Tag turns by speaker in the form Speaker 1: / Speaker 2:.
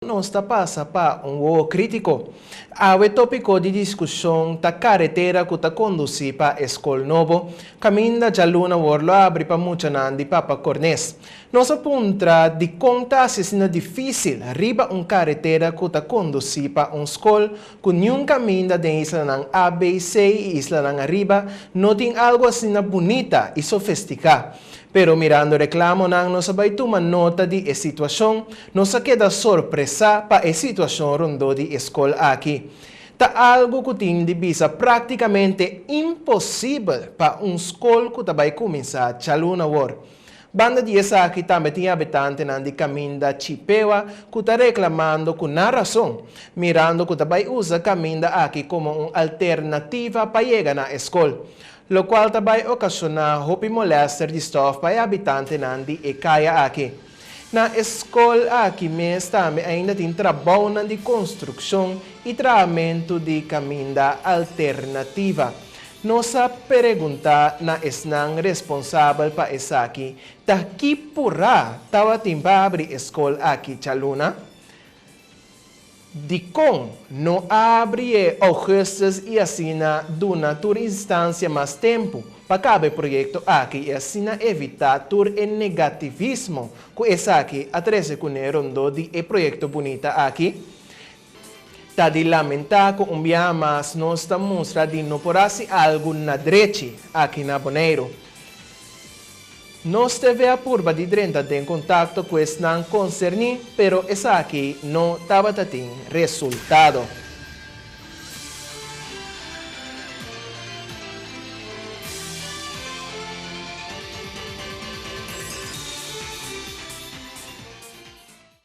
Speaker 1: Nos ta pasa pa un wowo krítiko. Awe tópiko di diskushon ta karetera ku ta kondusí pa e skol nobo, kaminda djaluna wòrdu lo abri pa muchanan di Papa Cornés. Nos a puntra dikon ta hasi asina difísil riba un karetera ku ta kondusí pa un skol ku niun kaminda den islanan ABC i islanan ariba no tin algu asina bunita i sofestiká. Pero mirando reklamonan nos a bai tuma nota di e situashon. Nos a keda sorpresá pa e situashon rondó di e skol aki. Ta algu ku tin di bisa práktikamente imposibel pa un skol ku ta bai kuminsá djaluna wòrd. Banda di esaki tambe tin habitantenan di kaminda Chipewa ku ta reklamando ku nan rason, mirando ku ta bai usa kaminda aki komo un alternativa pa yega na e skol, lokual ta bai okashoná hopi molèster di stòf pa e habitantenan di e kaya aki. Na e skol aki mes tambe ainda tin trabounan di konstrukshon i trahamentu di kaminda alternativa. Nos a pereguntá na esnan responsabel pa esaki ta ki purá tabatin pa abri e skol aki djaluna? Dikon no abri e Augustus i asina duna tur instancia mas tempu pa kaba e proyecto aki i asina evita tur e negativismo ku esaki a trese kuné rondó di e proyecto bunita aki? Ta di lamentá ku un bia mas nos ta mustra di no por hasi algu na drechi aki na Boneiru. Nos debe a purba di drenta den kontakto ku esnan konserní, pero esaki no tabata tin resultado.